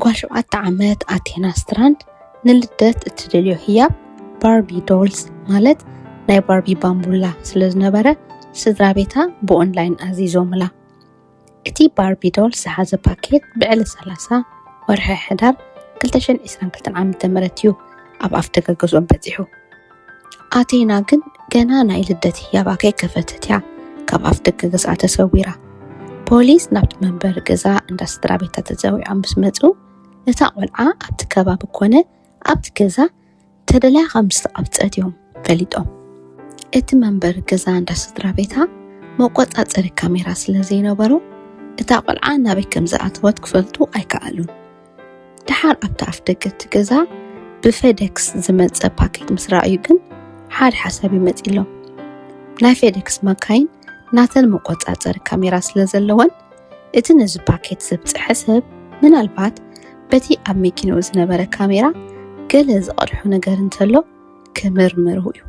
ጓል ሸውዓተ ዓመት ኣቴና ስትራንድ ንልደት እትደልዮ ህያብ ባርቢ ዶልስ ማለት ናይ ባርቢ ባምቡላ ስለ ዝነበረ ስድራ ቤታ ብኦንላይን ኣዚዞምላ። እቲ ባርቢ ዶልስ ዝሓዘ ፓኬት ብዕለ 30 ወርሒ ሕዳር 2022 ዓ.ም እዩ ኣብ ኣፍደገ ገዝኦም በጺሑ። ኣቴና ግን ገና ናይ ልደት ህያባ ከይከፈተት እያ ካብ ኣፍ ደገ ገዝኣ ተሰዊራ። ፖሊስ ናብቲ መንበሪ ገዛ እንዳ ስድራ ቤታ ተፀዊዖም ምስ መፁ እታ ቆልዓ ኣብቲ ከባቢ ኮነ ኣብቲ ገዛ ተደልያ ከም ዝተቐብፀት እዮም ፈሊጦም። እቲ መንበሪ ገዛ እንዳ ስድራ ቤታ መቆፃፀሪ ካሜራ ስለ ዘይነበሮ እታ ቆልዓ ናበይ ከም ዝኣተወት ክፈልጡ ኣይከኣሉን። ደሓር ኣብቲ ኣፍ ደገ እቲ ገዛ ብፌደክስ ዝመፀ ፓኬት ምስ ረኣዩ ግን ሓደ ሓሳብ እዩ መፂሎም ናይ ፌደክስ ማካይን ናተን መቆፃፀሪ ካሜራ ስለ ዘለወን እቲ ነዚ ፓኬት ዘብፅሐ ሰብ ምናልባት በቲ ኣብ መኪንኡ ዝነበረ ካሜራ ገለ ዝቐድሖ ነገር እንተሎ ክምርምሩ እዩ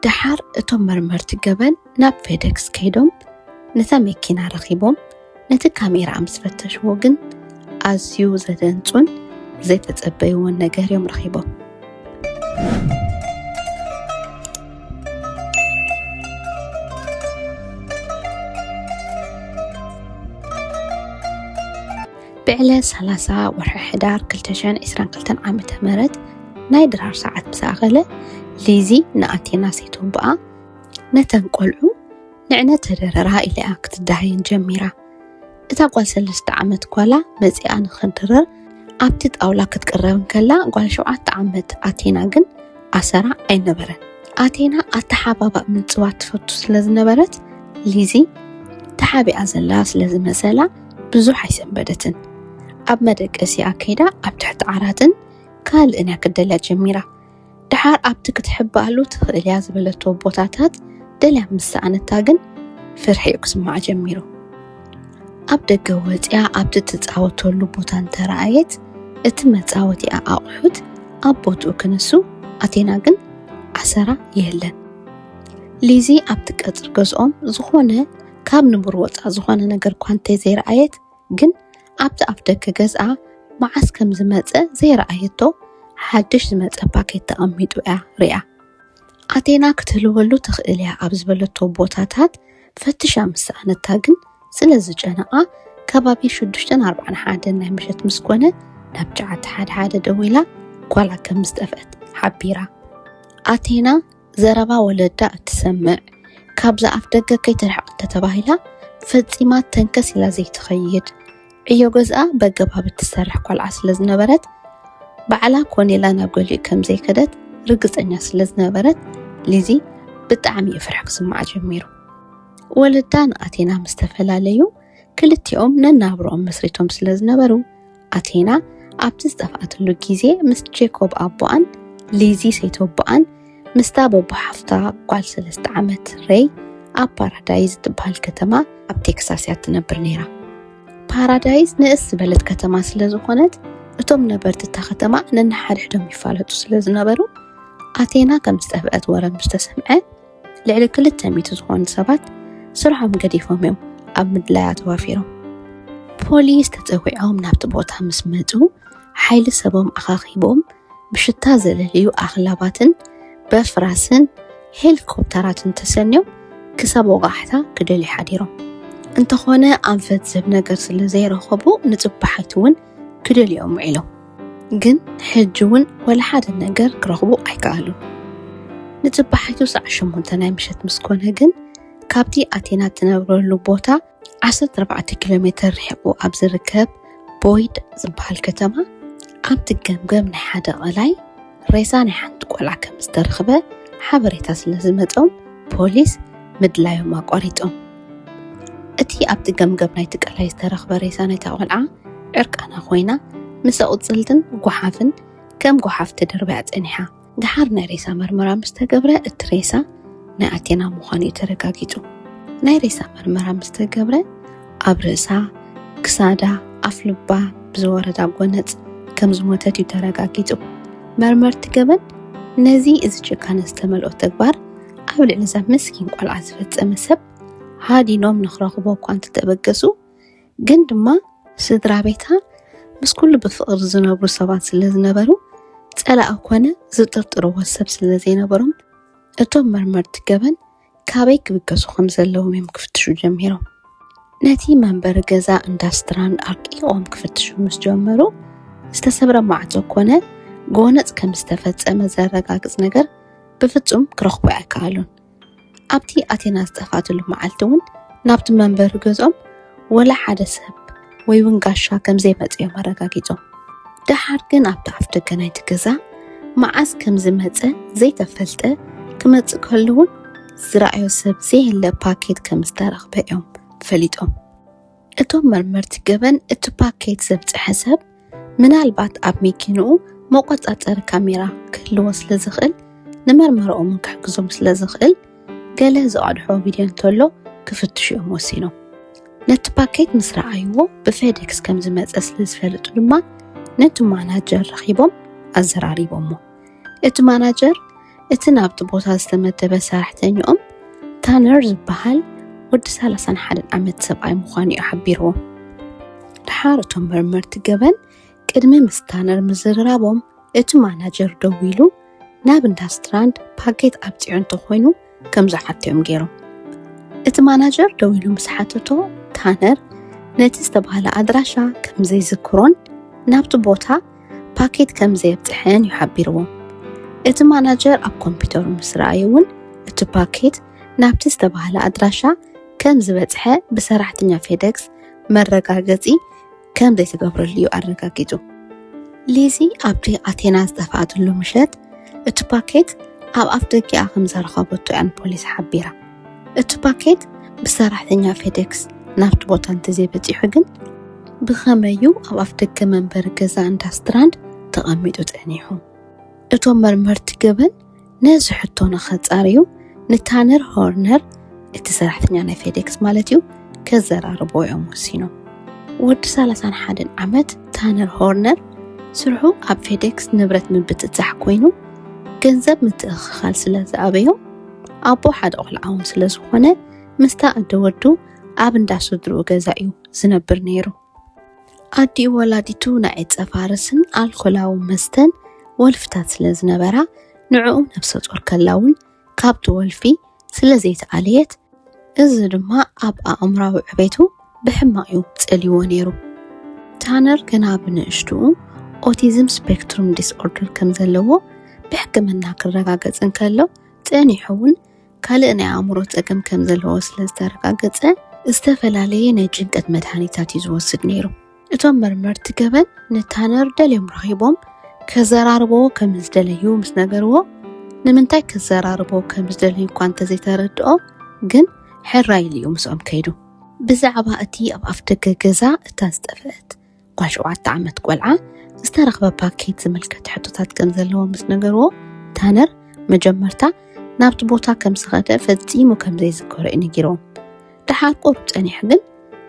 ደሓር እቶም መርመርቲ ገበን ናብ ፌደክስ ከይዶም ነታ መኪና ረኺቦም ነቲ ካሜራኣ ምስ ፈተሽዎ ግን ኣዝዩ ዘደንጹን ዘይተጸበይዎን ነገር እዮም ረኺቦም። ብዕለ ሰላሳ ወርሒ ሕዳር ክልተ ሽሕን ዒስራን ክልተን ዓመተ ምህረት ናይ ድራር ሰዓት ምስ ኣኸለ ሊዚ ንኣቴና ሰይቶቦኣ ነተን ቆልዑ ንዕነ ተደረራ ኢለያ ክትዳሃየን ጀሚራ። እታ ጓል ሰለስተ ዓመት ጓላ መጺኣ ንኽድረር ኣብቲ ጣውላ ክትቅረብ እንከላ ጓል ሸውዓተ ዓመት ኣቴና ግን ኣሰራ ኣይነበረን። ኣቴና ኣተሓባባእ ምንጽባት ትፈቱ ስለ ዝነበረት ሊዚ ተሓቢኣ ዘላ ስለ ዝመሰላ ብዙሕ ኣይሰንበደትን፣ ኣብ መደቀሲኣ ከይዳ ኣብ ትሕቲ ዓራትን ካልእን እያ ክትደልያ ጀሚራ። ደሓር ኣብቲ ክትሕበኣሉ ትኽእል እያ ዝበለቶ ቦታታት ደልያ ምስ ሰኣነታ ግን ፍርሒ'ዩ ክስምዓ ጀሚሩ። ኣብ ደገ ወጺኣ ኣብቲ ትጻወተሉ ቦታ እንተረኣየት እቲ መጻወቲኣ ኣቑሑት ኣብ ቦትኡ ክንሱ ኣቴና ግን ኣሰራ የለን። ሊዚ ኣብቲ ቀጽሪ ገዝኦም ዝኾነ ካብ ንቡር ወፃእ ዝኾነ ነገር እኳ እንተዘይረኣየት ግን ኣብቲ ኣፍ ደገ ገዝኣ መዓስ ከም ዝመፀ ዘይረኣየቶ ሓድሽ ዝመፀ ፓኬት ተቐሚጡ እያ ሪኣ። ኣቴና ክትህልወሉ ትኽእል እያ ኣብ ዝበለቶ ቦታታት ፈትሻ ምስ ሰኣነታ ግን ስለ ዝጨነቓ ከባቢ ሽዱሽተን ኣርባዕን ሓደን ናይ ምሸት ምስ ኮነ ናብ ጨዓተ ሓደ ሓደ ደዊላ ጓላ ከም ዝጠፍአት ሓቢራ። ኣቴና ዘረባ ወለዳ እትሰምዕ፣ ካብዛ ኣፍደገ ከይትርሕቕ እንተተባሂላ ፈጺማ ተንከስ ኢላ ዘይትኸይድ፣ ዕዮ ገዝኣ በገባብ እትሰርሕ ቈልዓ ስለ ዝነበረት፣ ባዕላ ኮን ኢላ ናብ ገሊኡ ከም ዘይከደት ርግጸኛ ስለ ዝነበረት፣ ሊዚ ብጣዕሚ እዩ ፍርሒ ክስምዓ ጀሚሩ። ወለዳ ንኣቴና ምስ ተፈላለዩ፣ ክልቲኦም ነናብርኦም መስሪቶም ስለ ዝነበሩ፣ ኣቴና ኣብቲ ዝጠፍኣትሉ ግዜ ምስ ጄኮብ ኣቦኣን ሊዚ ሰይተቦኣን ምስታ በቦ ሓፍታ ጓል ሰለስተ ዓመት ሬይ ኣብ ፓራዳይዝ እትበሃል ከተማ ኣብ ቴክሳስ እያ እትነብር ነይራ። ፓራዳይዝ ንእስ ዝበለት ከተማ ስለ ዝኾነት እቶም ነበርቲ እታ ከተማ ነንሓድሕዶም ይፋለጡ ስለ ዝነበሩ ኣቴና ከም ዝጠፍአት ወረ ምስ ተሰምዐ ልዕሊ ክልተ ሚእቲ ዝኾኑ ሰባት ስርሖም ገዲፎም እዮም ኣብ ምድላያ ተዋፊሮም። ፖሊስ ተፀዊዖም ናብቲ ቦታ ምስ መፁ ሓይሊ ሰቦም ኣኻኺቦም ብሽታ ዘለልዩ ኣኽላባትን በፍራስን ሄሊኮፕተራትን ተሰንዮም ክሳብ ወቓሕታ ክደልዩ ሓዲሮም እንተኾነ ኣንፈት ዝህብ ነገር ስለ ዘይረኸቡ ንፅባሒት እውን ክደልዮም ውዒሎም። ግን ሕጂ እውን ወላ ሓደ ነገር ክረኽቡ ኣይከኣሉን። ንጽባሒቱ ሰዓት ሸሞንተ ናይ ምሸት ምስ ኮነ ግን ካብቲ ኣቴና እትነብረሉ ቦታ ዓሰርተ ኣርባዕተ ኪሎ ሜተር ርሒቑ ኣብ ዝርከብ ቦይድ ዝበሃል ከተማ ኣብቲ ገምገም ናይ ሓደ ቐላይ ሬሳ ናይ ሓንቲ ቆልዓ ከምዝተረኽበ ሓበሬታ ስለዝመጾም ፖሊስ ምድላዮም ኣቋሪጾም። እቲ ኣብቲ ገምገም ናይቲ ቀላይ ዝተረኽበ ሬሳ ናይታ ቆልዓ ዕርቃና ኮይና ምስ ኣቑጽልትን ጓሓፍን ከም ጓሓፍ ተደርብያ ጸኒሓ። ደሓር ናይ ሬሳ መርመራ ምስ ተገብረ እቲ ሬሳ ናይ ኣቴና ምዃኑ እዩ ተረጋጊጹ። ናይ ሬሳ መርመራ ምስ ተገብረ ኣብ ርእሳ፣ ክሳዳ፣ ኣፍልባ ብዝወረዳ ጎነጽ ከም ዝሞተት እዩ ተረጋጊጹ። መርመርቲ ገበን ነዚ እዚ ጭካነ ዝተመልኦ ተግባር ኣብ ልዕሊዛ ምስኪን ቆልዓ ዝፈጸመ ሰብ ሃዲኖም ንክረኽቦ እኳ እንተተበገሱ ግን ድማ ስድራ ቤታ ምስ ኩሉ ብፍቕሪ ዝነብሩ ሰባት ስለ ዝነበሩ ጸላኢ ኮነ ዝጥርጥርዎ ሰብ ስለ ዘይነበሮም እቶም መርመርቲ ገበን ካበይ ክብገሱ ከም ዘለዎም እዮም ክፍትሹ ጀሚሮም። ነቲ መንበሪ ገዛ እንዳ ስትራንድ ኣርቂቖም ክፍትሹ ምስ ጀመሩ ዝተሰብረ ማዕጾ ኮነ ጎነጽ ከም ዝተፈጸመ ዘረጋግጽ ነገር ብፍጹም ክረኽቡ ኣይከኣሉን። ኣብቲ ኣቴና ዝጠፍኣትሉ መዓልቲ እውን ናብቲ መንበሪ ገዝኦም ወላ ሓደ ሰብ ወይ እውን ጋሻ ከም ዘይመጽእ እዮም ኣረጋጊጾም። ደሓር ግን ኣብቲ ኣፍ ደገ ናይቲ ገዛ መዓስ ከም ዝመጸ ዘይተፈልጠ ክመጽእ ከሉ እውን ዝረኣዮ ሰብ ዘየለ ፓኬት ከም ዝተረኽበ እዮም ፈሊጦም። እቶም መርመርቲ ገበን እቲ ፓኬት ዘብጽሐ ሰብ ምናልባት ኣብ መኪንኡ መቖጻጸሪ ካሜራ ክህልዎ ስለ ዝኽእል፣ ንመርመራኦም ክሕግዞም ስለ ዝኽእል፣ ገለ ዝቐድሖ ቪድዮ እንተሎ ክፍትሹ እዮም ወሲኖም። ነቲ ፓኬት ምስ ረኣይዎ ብፌዴክስ ከም ዝመጸ ስለ ዝፈልጡ ድማ ነቲ ማናጀር ረኺቦም ኣዘራሪቦሞ። እቲ ማናጀር እቲ ናብቲ ቦታ ዝተመደበ ሰራሕተኛኦም ታነር ዝበሃል ወዲ 31 ዓመት ሰብኣይ ምዃኑ እዩ ሓቢርዎ። ድሓር እቶም መርመርቲ ገበን ቅድሚ ምስ ታነር ምዝርራቦም እቲ ማናጀር ደው ኢሉ ናብ እንዳ ስትራንድ ፓኬት ኣብፂዑ እንተኾይኑ ከም ዝሓቶ እዮም ገይሮም። እቲ ማናጀር ደው ኢሉ ምስ ሓተቶ ታነር ነቲ ዝተባህለ ኣድራሻ ከም ዘይዝክሮን ናብቲ ቦታ ፓኬት ከም ዘየብጽሐን እዩ ሓቢርዎ። እቲ ማናጀር ኣብ ኮምፒዩተሩ ምስ ረኣየ እውን እቲ ፓኬት ናብቲ ዝተባህለ ኣድራሻ ከም ዝበጽሐ ብሰራሕተኛ ፌደክስ መረጋገጺ ከም ዘይተገብረሉ እዩ ኣረጋጊጹ። ሊዚ ኣብቲ ኣቴና ዝጠፍኣትሉ ምሸት እቲ ፓኬት ኣብ ኣፍ ደጊኣ ከም ዘረኸበቶ እያ ንፖሊስ ሓቢራ። እቲ ፓኬት ብሰራሕተኛ ፌዴክስ ናብቲ ቦታ እንተዘይበጺሑ ግን፣ ብኸመይ እዩ ኣብ ኣፍደገ መንበሪ ገዛ እንዳ ስትራንድ ተቐሚጡ ጸኒሑ? እቶም መርመርቲ ገበን ነዚ ሕቶ ንኸጻርዩ ንታነር ሆርነር፣ እቲ ሰራሕተኛ ናይ ፌዴክስ ማለት እዩ፣ ከዘራርብዎ እዮም ወሲኖም። ወዲ ሰላሳን ሓደን ዓመት ታነር ሆርነር፣ ስርሑ ኣብ ፌዴክስ ንብረት ምብጽጻሕ ኮይኑ፣ ገንዘብ ምትእኽኻል ስለዝኣበዮ፣ ኣቦ ሓደ ቆልዓውን ስለ ዝኾነ ምስታ ኣደ ወዱ ኣብ እንዳ ስድርኡ ገዛ እዩ ዝነብር ነይሩ። ኣዲኡ ወላዲቱ ናይ ዕፀ ፋርስን ኣልኮላዊ መስተን ወልፍታት ስለ ዝነበራ ንዕኡ ነብሰ ጾር ከላ እውን ካብቲ ወልፊ ስለ ዘይተኣለየት እዚ ድማ ኣብ ኣእምራዊ ዕቤቱ ብሕማቕ እዩ ጸልይዎ ነይሩ። ታነር ገና ብንእሽትኡ ኦቲዝም ስፔክትሩም ዲስኦርደር ከም ዘለዎ ብሕክምና ክረጋገጽ እንከሎ ጸኒሑ እውን ካልእ ናይ ኣእምሮ ጸገም ከም ዘለዎ ስለ ዝተረጋገጸ ዝተፈላለየ ናይ ጭንቀት መድሃኒታት እዩ ዝወስድ ነይሩ። እቶም መርመርቲ ገበን ንታነር ደልዮም ረኺቦም ከዘራርቦ ከም ዝደለዩ ምስ ነገርዎ ንምንታይ ከዘራርቦ ከም ዝደለዩ እኳ እንተዘይተረድኦ ግን ሕራይ ኢሉ እዩ ምስኦም ከይዱ። ብዛዕባ እቲ ኣብ ኣፍደገ ገዛ እታ ዝጠፍአት እኳ ሸውዓተ ዓመት ቆልዓ ዝተረኽበ ፓኬት ዝምልከት ሕቶታት ከም ዘለዎ ምስ ነገርዎ ታነር መጀመርታ ናብቲ ቦታ ከም ዝኸደ ፈጺሙ ከም ዘይዝከሮ እዩ ነጊርዎም ድሓር ቁሩብ ጸኒሑ ግን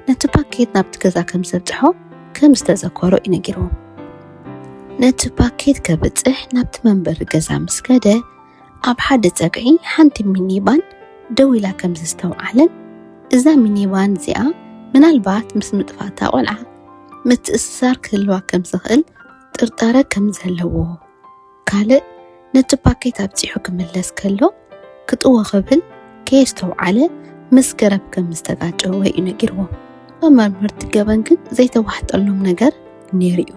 ነቲ ፓኬት ናብቲ ገዛ ከም ዘብጽሖ ከም ዝተዘከሮ እዩ ነጊርዎም ነቲ ፓኬት ከብጽሕ ናብቲ መንበሪ ገዛ ምስ ከደ ኣብ ሓደ ጸግዒ ሓንቲ ሚኒባን ደው ኢላ ከም ዘስተውዓለን፣ እዛ ሚኒባን እዚኣ ምናልባት ምስ ምጥፋእታ ቆልዓ ምትእስሳር ክህልዋ ከም ዝኽእል ጥርጣረ ከም ዘለዎ፣ ካልእ ነቲ ፓኬት ኣብጺሑ ክምለስ ከሎ ክጥዎ ክብል ከየስተውዓለ ምስ ገረብ ከም ዝተጋጨወ እዩ ነጊርዎ። መመርመርቲ ገበን ግን ዘይተዋሕጠሎም ነገር ነይሩ እዩ።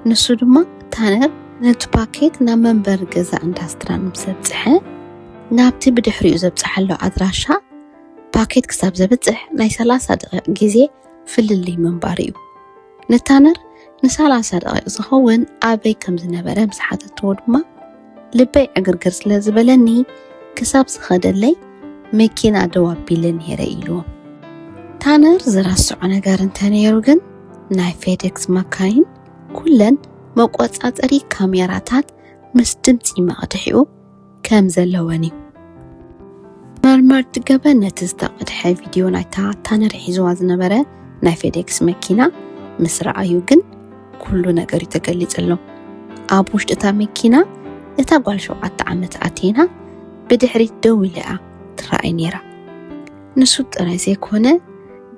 ንሱ ድማ ታነር ነቲ ፓኬት ናብ መንበሪ ገዛ ኢንዳስትራን ምስ ኣብጽሐ ናብቲ ብድሕሪኡ ዘብጽሓሉ ኣድራሻ ፓኬት ክሳብ ዘብጽሕ ናይ 30 ደቂቕ ግዜ ፍልልይ ምንባሩ እዩ። ንታነር ን30 ደቂቕ ዝኸውን ኣበይ ከም ዝነበረ ምስ ሓተትዎ ድማ ልበይ ዕግርግር ስለ ዝበለኒ ክሳብ ዝኸደለይ መኪና ደው ኣቢለ ነይረ ኢሉ። ታነር ዝረስዖ ነገር እንተነይሩ ግን ናይ ፌዴክስ መካይን ኩለን መቆጻጸሪ ካሜራታት ምስ ድምፂ መቕድሒኡ ከም ዘለወን እዩ። መርመርቲ ገበን ነቲ ዝተቐድሐ ቪድዮ ናይታ ታነር ሒዝዋ ዝነበረ ናይ ፌዴክስ መኪና ምስ ረኣዩ ግን ኩሉ ነገር እዩ ተገሊጸሎም ኣብ ውሽጢ እታ መኪና እታ ጓል ሸውዓተ ዓመት ኣቴና ብድሕሪት ደው ኢላ እያ ትረኣይ ነይራ ንሱ ጥራይ ዘይኮነ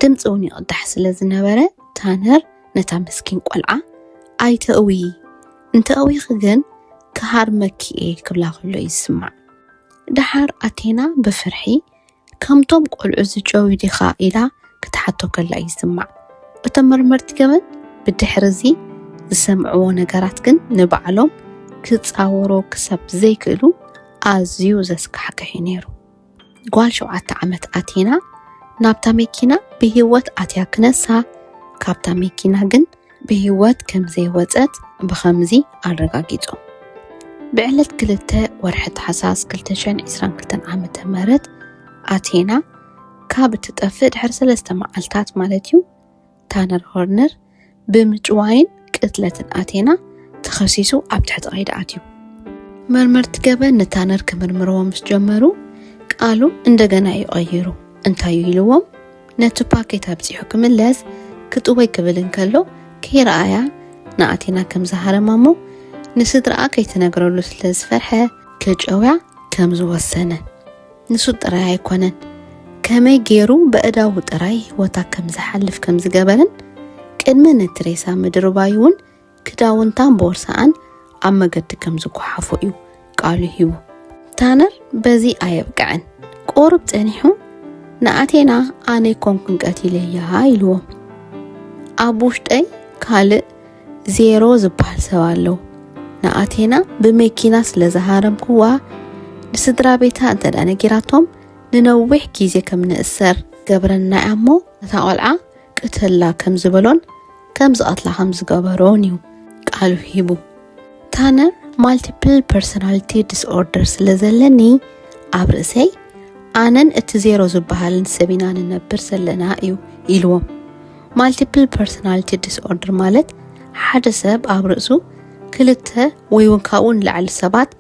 ድምፂ እውን ይቕዳሕ ስለ ዝነበረ ታነር ነታ ምስኪን ቆልዓ ኣይተእዊ እንተእዊኺ ግን ክሃርመኪ እየ ክብላ ከሎ እዩ ዝስማዕ ደሓር ኣቴና ብፍርሒ ከምቶም ቈልዑ ዝጨውዩ ዲኻ ኢላ ክትሓቶ ከላ ይስማዕ። እቶም መርመርቲ ገበን ብድሕሪ እዚ ዝሰምዕዎ ነገራት ግን ንባዕሎም ክጻወሩ ክሳብ ዘይክእሉ ኣዝዩ ዘስካሕክሕ እዩ ነይሩ። ጓል ሸውዓተ ዓመት ኣቴና ናብታ መኪና ብህይወት ኣትያ ክነሳ ካብታ መኪና ግን ብህይወት ከም ዘይወጸት ብኸምዚ ኣረጋጊጾም። ብዕለት ክልተ ወርሒ ታሕሳስ 222 ዓመተ ምህረት ኣቴና ካብ እትጠፍእ ድሕሪ ሰለስተ መዓልታት ማለት እዩ ታነር ሆርነር ብምጭዋይን ቅትለትን ኣቴና ተኸሲሱ ኣብ ትሕቲ ቀይዲ ኣትዩ። መርመርቲ ገበን ንታነር ክምርምርዎ ምስ ጀመሩ ቃሉ እንደገና እዩ ቀይሩ። እንታይ እዩ ኢልዎም? ነቲ ፓኬት ኣብጺሑ ክምለስ ክጥወይ ክብል እንከሎ ከይረኣያ ንኣቴና ከም ዝሃረማ እሞ ንስድራኣ ከይትነግረሉ ስለ ዝፈርሐ ክጨውያ ከም ዝወሰነ ንሱ ጥራይ ኣይኮነን ከመይ ገይሩ በእዳዉ ጥራይ ህይወታ ከም ዝሓልፍ ከም ዝገበርን ቅድሚ ነቲ ሬሳ ምድርባይ እውን ክዳውንታን ቦርሳኣን ኣብ መገዲ ከም ዝጓሓፎ እዩ ቃሉ ሂቡ። ታነር በዚ ኣየብቅዐን ቁሩብ ጸኒሑ ንኣቴና ኣነ ኣይኮንኩን ቀቲለያ ኢልዎም። ኣብ ውሽጠይ ካልእ ዜሮ ዝበሃል ሰብ ኣሎ። ንኣቴና ብመኪና ስለ ዝሃረምኩዋ ንስድራ ቤታ እንተ ደኣ ነጊራቶም ንነዊሕ ግዜ ከም ንእሰር ገብረና እያ እሞ ነታ ቆልዓ ቅተላ ከም ዝበሎን ከም ዝቐትላ ከም ዝገበሮን'ዩ ቃሉ ሂቡ። ታነር ማልቲፕል ፐርሶናሊቲ ዲስኦርደር ስለ ዘለኒ ኣብ ርእሰይ ኣነን እቲ ዜሮ ዝበሃልን ሰብ ኢና ንነብር ዘለና እዩ ኢልዎም። ማልቲፕል ፐርሶናሊቲ ዲስኦርደር ማለት ሓደ ሰብ ኣብ ርእሱ ክልተ ወይ እውን ካብኡ ንላዕሊ ሰባት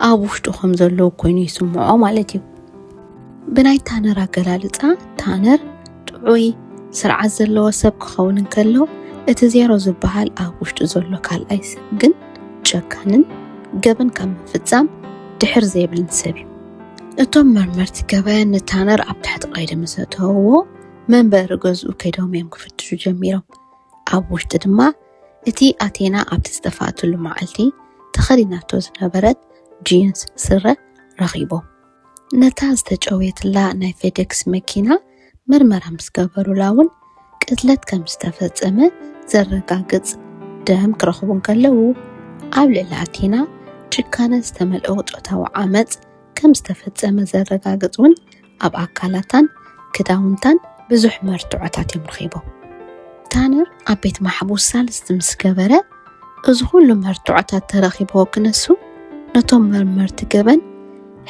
ኣብ ውሽጡ ከም ዘለዉ ኮይኑ ይስምዖ ማለት እዩ ብናይ ታነር ኣገላልፃ ታነር ጥዑይ ስርዓት ዘለዎ ሰብ ክኸውን እንከሎ እቲ ዜሮ ዝበሃል ኣብ ውሽጡ ዘሎ ካልኣይ ሰብ ግን ጨካንን ገበን ካብ ምፍፃም ድሕር ዘይብልን ሰብ እዩ እቶም መርመርቲ ገበን ንታነር ኣብ ትሕቲ ቀይዲ ምስ ኣተውዎ መንበሪ ገዝኡ ከይዶም እዮም ክፍትሹ ጀሚሮም ኣብ ውሽጢ ድማ እቲ ኣቴና ኣብቲ ዝጠፍኣትሉ መዓልቲ ተኸዲናቶ ዝነበረት ጂንስ ስረ ረኺቦም። ነታ ዝተጨውየትላ ናይ ፌዴክስ መኪና ምርመራ ምስ ገበሩላ እውን ቅትለት ከም ዝተፈጸመ ዘረጋግጽ ደም ክረኽቡ እንከለዉ፣ ኣብ ልዕሊ ኣቴና ጭካነ ዝተመልኦ ጾታዊ ዓመጽ ከም ዝተፈጸመ ዘረጋግጽ እውን ኣብ ኣካላታን ክዳውንታን ብዙሕ መርትዖታት እዮም ረኺቦም። ታነር ኣብ ቤት ማሕቡስ ሳልስቲ ምስ ገበረ እዚ ኩሉ መርትዖታት ተረኺብዎ ክነሱ ነቶም መርመርቲ ገበን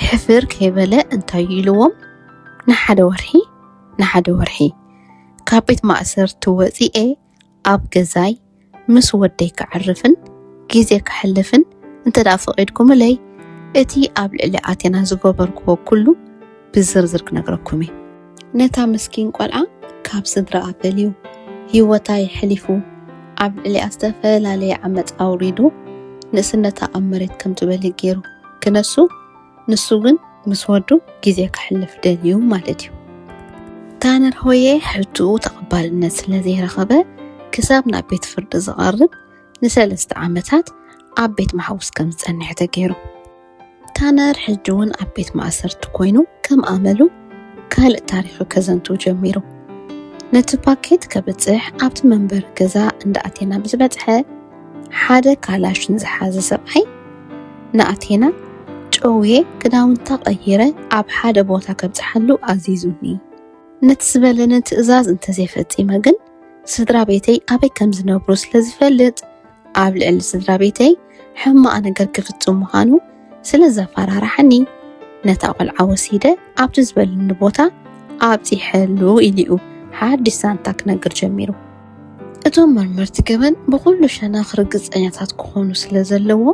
ሕፍር ከይበለ እንታይ እዩ ኢልዎም ንሓደ ወርሒ ንሓደ ወርሒ ካብ ቤት ማእሰርቲ ወፂኤ ኣብ ገዛይ ምስ ወደይ ከዕርፍን ግዜ ከሕልፍን እንተ ደኣ ፈቒድኩምለይ፣ እቲ ኣብ ልዕሊ ኣቴና ዝገበርክዎ ኵሉ ብዝርዝር ክነግረኩም እየ። ነታ ምስኪን ቈልዓ ካብ ስድራኣ ፈልዩ፣ ህይወታ የሕሊፉ፣ ኣብ ልዕሊኣ ዝተፈላለየ ዓመጽ ኣውሪዱ፣ ንእስነታ ኣብ መሬት ከም ትበሊ ገይሩ ክነሱ፣ ንሱ ግን ምስ ወዱ ግዜ ከሕልፍ ደልዩ ማለት እዩ። ታነር ሆየ ሕቱኡ ተቐባልነት ስለ ዘይረኸበ ክሳብ ናብ ቤት ፍርዲ ዝቐርብ ንሰለስተ ዓመታት ኣብ ቤት ማሕቡስ ከም ዝጸንሐ ተገይሩ። ታነር ሕጂ እውን ኣብ ቤት ማእሰርቲ ኮይኑ ከም ኣመሉ ካልእ ታሪኹ ከዘንቱ ጀሚሩ። ነቲ ፓኬት ከብጽሕ ኣብቲ መንበሪ ገዛ እንዳኣቴና ብዝበጽሐ ሓደ ካላሽን ዝሓዘ ሰብኣይ ንኣቴና፣ ጨውየ ክዳውንታ ቀይረ ኣብ ሓደ ቦታ ከብጽሓሉ ኣዚዙኒ። ነቲ ዝበለኒ ትእዛዝ እንተ ዘይፈጺመ ግን፣ ስድራ ቤተይ ኣበይ ከም ዝነብሩ ስለ ዝፈልጥ፣ ኣብ ልዕሊ ስድራ ቤተይ ሕማቕ ነገር ክፍጽም ምዃኑ ስለ ዘፈራርሓኒ ነታ ቆልዓ ወሲደ ኣብቲ ዝበልኒ ቦታ ኣብፂሐሉ ኢሉኡ ሓድሽ ዛንታ ክነግር ጀሚሩ እቶም መርመርቲ ገበን ብኩሉ ሸነኽ ርግፀኛታት ክኾኑ ስለ ዘለዎ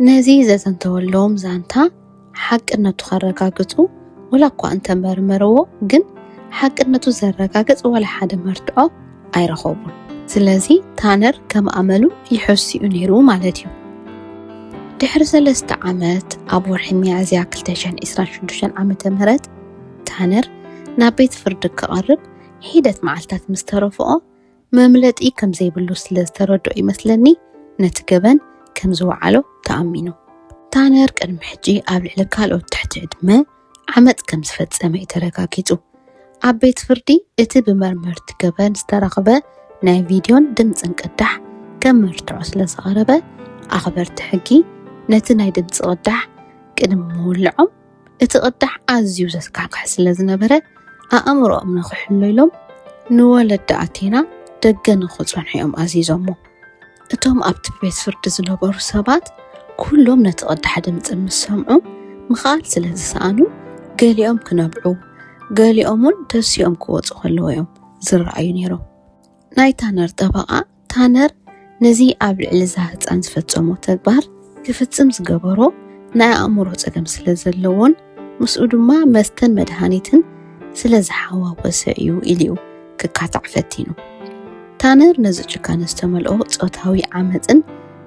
ነዚ ዘዘንተወሎም ዛንታ ሓቅነቱ ከረጋግፁ ወላ እኳ እንተመርመርዎ ግን ሓቅነቱ ዘረጋግፅ ወላ ሓደ መርትዖ ኣይረኸቡን ስለዚ ታነር ከም ኣመሉ ይሐስኡ ነይሩ ማለት እዩ ድሕሪ ሰለስተ ዓመት ኣብ ወርሒ ሚያዝያ 226 ዓ ም ታነር ናብ ቤት ፍርዲ ክቐርብ ሒደት መዓልትታት ምስ ተረፍኦ መምለጢ ከም ዘይብሉ ስለ ዝተረድኦ ይመስለኒ ነቲ ገበን ከም ዝወዓሎ ተኣሚኑ ታነር ቅድሚ ሕጂ ኣብ ልዕሊ ካልኦት ትሕቲ ዕድመ ዓመፅ ከም ዝፈፀመ እዩ ተረጋጊፁ። ኣብ ቤት ፍርዲ እቲ ብመርመርቲ ገበን ዝተረኽበ ናይ ቪድዮን ድምፅን ቅዳሕ ከም መርትዖ ስለ ዝቐረበ ኣኽበርቲ ሕጊ ነቲ ናይ ድምፂ ቅዳሕ ቅድሚ ምውልዖም እቲ ቅዳሕ ኣዝዩ ዘስካሕክሕ ስለ ዝነበረ ኣእምሮኦም ንክሕሎ ኢሎም ንወለዲ ኣቴና ደገ ንክፀንሑ እዮም ኣዚዞሞ። እቶም ኣብቲ ቤት ፍርዲ ዝነበሩ ሰባት ኵሎም ነቲ ቕዳሕ ድምጺ ምስ ሰምዑ፣ ምኽኣል ስለ ዝሰኣኑ፣ ገሊኦም ክነብዑ፣ ገሊኦምውን ደሲኦም ክወጹ ኸለዉ እዮም ዝረኣዩ ነይሮም። ናይ ታነር ጠበቓ፣ ታነር ነዚ ኣብ ልዕሊ እዛ ህጻን ዝፈጸሞ ተግባር ክፍጽም ዝገበሮ ናይ ኣእምሮ ጸገም ስለ ዘለዎን፣ ምስኡ ድማ መስተን መድሃኒትን ስለ ዝሓዋወሰ እዩ ኢሉ እዩ ክካታዕ ፈቲኑ። ታነር ነዚ ጭካነ ዝተመልኦ ጾታዊ ዓመፅን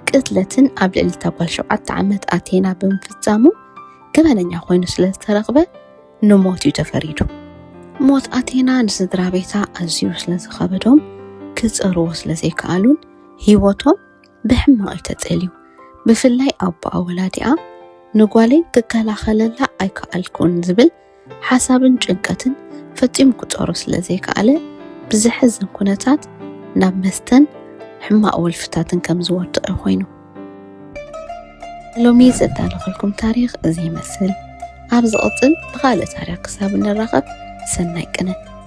ቅትለትን ኣብ ልዕሊ እታ ጓል ሸውዓተ ዓመት ኣቴና ብምፍፃሙ ገበነኛ ኮይኑ ስለ ዝተረኽበ ንሞት እዩ ተፈሪዱ። ሞት ኣቴና ንስድራ ቤታ ኣዝዩ ስለ ዝኸበዶም ክፀርዎ ስለ ዘይከኣሉን ህይወቶም ብሕማቕ እዩ ተጸልዩ። ብፍላይ ኣቦኣ ወላዲኣ ንጓለይ ክከላኸለላ ኣይከኣልኩን ዝብል ሓሳብን ጭንቀትን ፈጺሙ ክጾሮ ስለ ዘይከኣለ ብዘሕዝን ኩነታት ናብ መስተን ሕማቕ ወልፍታትን ከም ዝወድቕ ኮይኑ። ሎሚ ዘዳለኹልኩም ታሪኽ እዚ ይመስል። ኣብ ዝቕጽል ብኻልእ ታሪኽ ክሳብ እንራኸብ ሰናይ ቅነ።